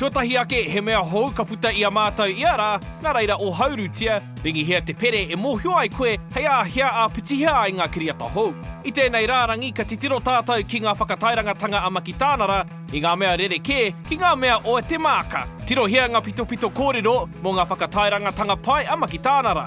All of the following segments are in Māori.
Tuatahi ake, he mea hou ka puta i a mātou ia rā, nā reira ohaurutia, ringihia te pere e mōhio ai koe hei āhea ā pitihia ai ngā kiriata hou. I tēnei rārangi ka titiro tātou ki ngā whakatairangatanga a Makitānara i ngā mea rerekē ki ngā mea o te māka. Tirohia ngā pitopito kōrero mō ngā whakatairangatanga pai a Makitānara.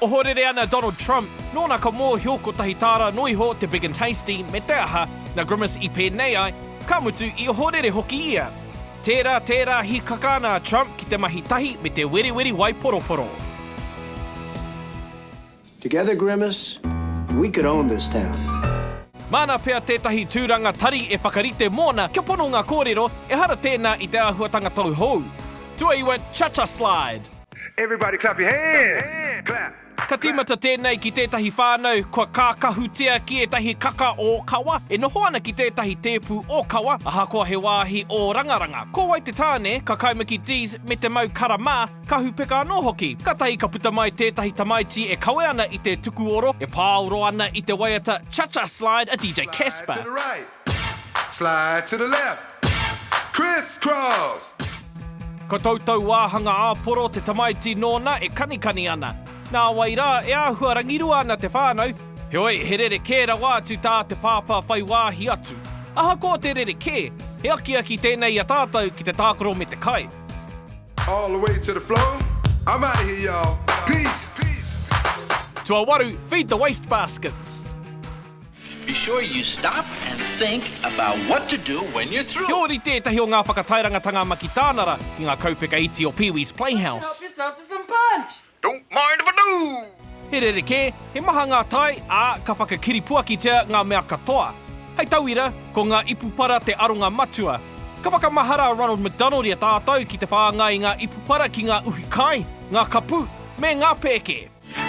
Ohorere ana Donald Trump, nōna ka mōhio kotahi tāra noa iho te Big and Tasty me te aha, nā Grimace i pēnei ai, ka mutu i ohorere hoki ia. Tērā, tērā hīkaka ana a Trump ki te mahi tahi me te weriweri waiporoporo. Together Grimace, we could own this town. Māna pea tētahi tūranga tari e whakarite mōna kia pono ngā kōrero, ehara tēnā i te āhuatanga tauhou. Tuaiwa, Cha-Cha Slide! Everybody clap your hands! Clap! Ka tīmata tēnei ki tētahi whānau kua kākahutia ki ētahi kaka ōkawa e noho ana ki tētahi tēpu ōkawa ahakoa he wāhi ōrangaranga. Ko wai te tāne, ka kaimaki Dees me te mau kara mā, ka hupeka anō hoki. Kātahi ka puta mai tētahi tamaiti e kawe ana i te tukuoro e pāoro ana i te waiata Cha-Cha Slide a DJ Casper. Slide to the left. Criss cross. Ko tou tou wāhanga āporo te tamaiti nōna e kanikani ana. Nāwai rā, e āhua rangirua ana te whānau, heoi he rerekē rawa atu tā te pāpā whai wāhi atu. Ahakoa te rerekē, he akiaki tēnei i a tātou ki te tākaro me te kai. All the way to the floor. I'm out of here y'all. Peace. Tuawaru, feed the waste baskets. Be sure you stop and think about what to do when you're through. He ōrite ētahi o ngā whakatairangatanga Makitānara ki ngā kaupeka iti o Pee Wee's Playhouse. Help yourself to some punch! Don't mind if I do! He rerekē, he maha ngā tae, ā, ka whakakiripuakitia ngā mea katoa. Hei tauira, ko ngā ipu para te aronga matua. Ka whakamahara a Ronald McDonald i a tātou ki te whāngai i ngā ipu para ki ngā uhi kai, ngā kapu, me ngā pēke.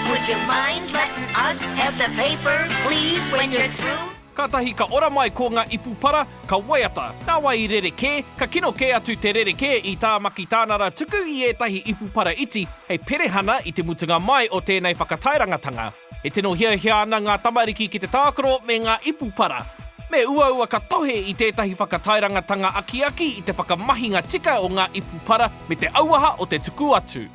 Would you mind letting us have the paper, please, when you're through? Kātahi ka ora mai ko ngā ipu para, ka waiata, nāwai i rerekē, ka kino kē atu te rerekē i Tāmaki Tānara tuku i ētahi ipu para iti hei perehana i te mutunga mai o tēnei whakatairangatanga. E tino hiahia ana ngā tamariki ki te tākaro me ngā ipu para. Me uaua ka tohe i tētahi whakatairangatanga akiaki i te whakamahinga tika o ngā ipu para me te auaha o te tuku atu.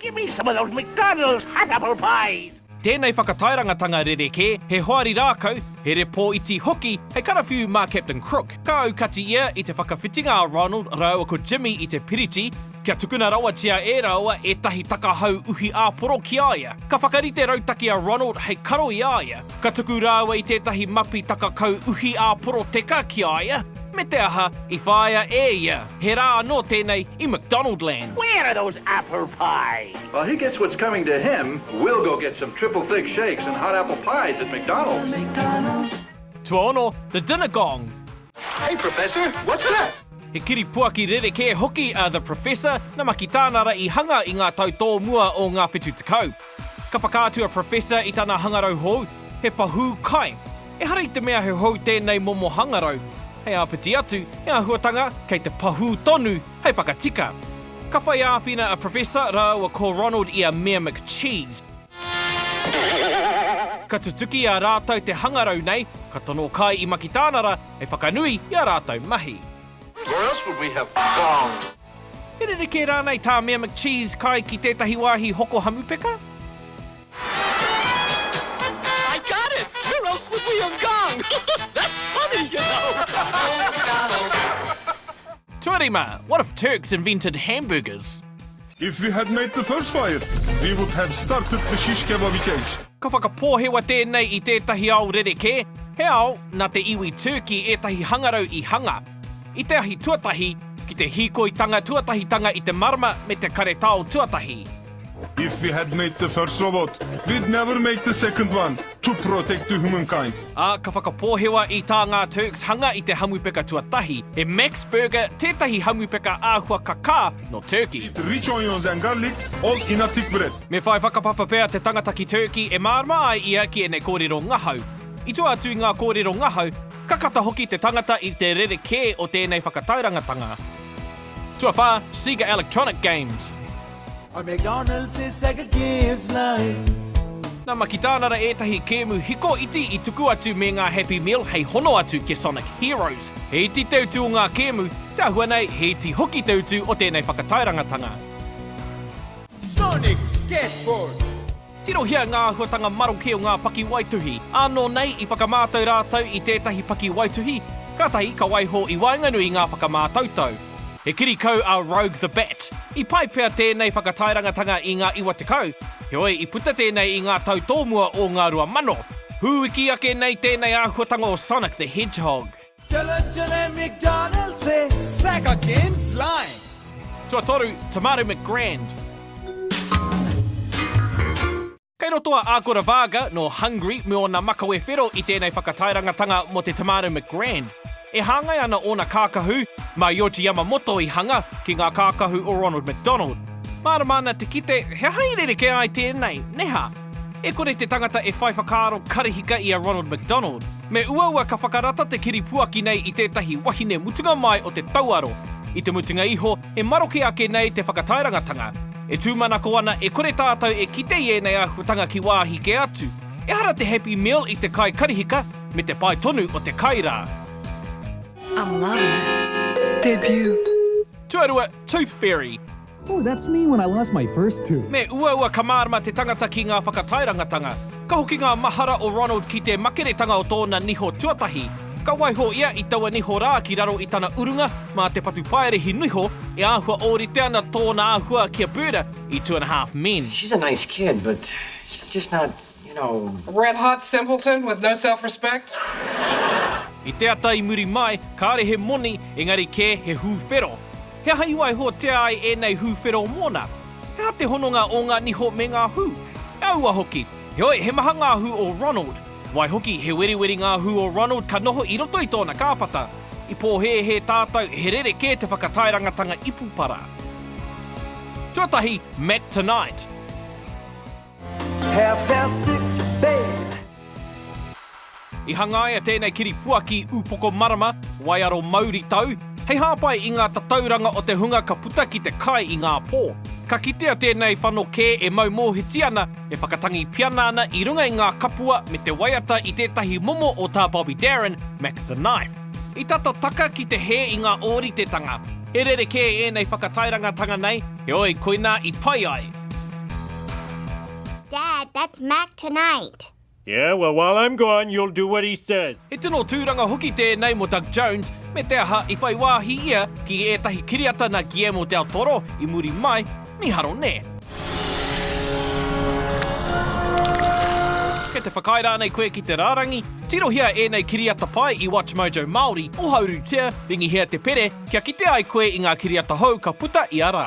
Give me some of those McDonald's hot apple pies! Tēnei whakatairangatanga rerekē, he hoari rākau, he repō iti hoki hei karawhiu mā Captain Crook. Ka aukati ia i te whakawhitinga a Ronald rāua ko Jimmy i te piriti, kia tukuna rawatia e rāua ētahi takahau uhi āporo ki a ia. Ka whakarite rautaki a Ronald hei karo i a ia. Ka tuku rāua i tētahi mapi takakau uhi āporo teka ki a ia, me te aha, i whāia e ia. He rā anō tēnei i McDonaldland. Where are those apple pies? While he gets what's coming to him, we'll go get some triple thick shakes and hot apple pies at McDonald's. Tuaono, The Dinner Gong. Hey Professor, what's that? He kiripuaki rerekē hoki a The Professor, namaki tāna ra i hanga i ngā tau tōmua o ngā whetu tekau. Ka whakaatu a Professor i tana hangarau hou, he pahū kai. Ehara i te mea he hou tēnei momo hangarau, hei āpiti atu, he āhuatanga kei te pahū tonu hei whakatika. Ka whai āwhina a Professor rāua ko Ronald i a Mayor McCheese. Ka tutuki i a rātou te hangarau nei, ka tono kai i Makitānara hei whakanui i a rātou mahi. He rerekē rānei tā Mayor McCheese kai ki tētahi wāhi hoko hamupeka? I got it! Where else would we have gone? That's funny, you know! Tuarima, What if Turks invented hamburgers? If we had made the first fire, we would have started the shish kebab cage. Ka whakapōhewa tēnei i tētahi ao rerekē, he ao nā te iwi Turkey ētahi hangarau i hanga. I te ahi tuatahi, ki te hīkoitanga tuatahitanga i te marama me te karetao tuatahi. If we had made the first robot, we'd never make the second one to protect the humankind. Ā, ka whakapōhewa i tā ngā Turks hanga i te hamupeka tuatahi, he Max Burger tētahi hamupeka āhua kakā nō Turkey. Eat rich onions and garlic all in a thick bread. Me whai whakapapa pea te tangata ki Turkey e mārama ai ia ki ēnei kōrero ngahau. I tua atu i ngā kōrero ngahau, Ka kata hoki te tangata i te rerekē o tēnei whakatairangatanga. Tuawhā, Sega Electronic Games. A McDonald says Sega gives life. Nā Makitānara ētahi kēmu hiko iti i tuku atu me ngā Happy Meal hei hono atu ki Sonic Heroes. He iti te utu o ngā kēmu, te āhua nei he iti hoki te utu o tēnei whakatairangatanga. Sonic Skateboard. Tirohia ngā āhuatanga maroke o ngā pakiwaituhi. Ānō nei, i whakamātau rātou i tētahi pakiwaituhi, kātahi ka waiho i waenganui i ngā whakamātautau. He kiri kau a Rogue the Bat. I pai pea tēnei whakatairangatanga i ngā iwa tekau, heoi i puta tēnei i ngā tau tōmua o ngā rua mano. Hūiki ake nei tēnei āhuatanga o Sonic the Hedgehog. Tuatoru, Tamaru McGrand. Kei roto a Agora Varga, nō Hungary, me ōna makawe whero i tēnei whakatairanga-tanga mō te Tamaru McGrand. E hāngai ana ōna kākahu, mā Yoji Yamamoto i hanga, ki ngā kākahu o Ronald McDonald. Mārama ana te kite, he aha i rerekē ai tēnei, nē hā? E kore te tangata e whai whakaaro karihika i a Ronald McDonald. Me uaua ka whakarata te kiripuaki nei i tētahi wahine mutunga mai o te tauaro. I te mutunga iho, e maroke ake nei te whakataerangatanga. E tūmanako ana e kore tātou e kite i ēnei āhuatanga ki wāhi kē atu. Ehara te Happy Meal i te kai karihika, me te pai tonu o te kai rā. I'm loving it. Debut. Tuarua, Tooth Fairy. Ooh, that's me when I lost my first tooth. Me uaua ka mārama te tangata ki ngā whakatairangatanga, ka hoki ngā mahara o Ronald ki te makeretanga o tōna niho tuatahi. Ka waiho ia i taua niho rā ki raro i tana urunga mā te patu paerehi niho e āhua ōrite ana tōna āhua ki a Birda i Two and a Half Men. She's a nice kid, but she's just not. You know. Red hot simpleton with no self respect. I te ata i muri mai, kāre he moni, engari kē he hūwhero. He aha i waihotia ai ēnei hūwhero mōna? He aha te hononga o ngā niho me ngā hū? E aua hoki. Heoi, he maha ngā hū o Ronald. Waihoki, he weriweri ngā hū o Ronald ka noho i roto i tōna kāpata. I pōhēhē tātou, he rerekē te whakataerangatanga ipu para. Tuatahi, Mac Tonight. I hangaia tēnei kiripuaki upoko marama, waiaro mauritau, hei hāpai i ngā tatauranga o te hunga ka puta ki te kai i ngā pō. Ka kitea tēnei whano kē e mau mōhiti ana, e whakatangi piana ana i runga i ngā kapua me te waiata i tētahi momo o tā Bobby Darin, Mac the Knife. I tata taka ki te hē i ngā ōritetanga. He rerekē ēnei whakatairangatanga nei. Heoi, koinā i pai ai. Dad, that's Mac tonight. Yeah, well while I'm gone, you'll do what he says. He tino tūranga hoki tēnei mō Doug Jones, me te aha i whai wāhi ia ki ētahi kiriata nā Guillermo del Toro i muri mai, mīharo nē. Kei te whakaae rānei koe ki te rārangi? Tirohia ēnei kiriata pai i WatchMojo Māori, ohaurutia, ringihia te pere, kia kite ai koe i ngā kiriata hou ka puta ia rā.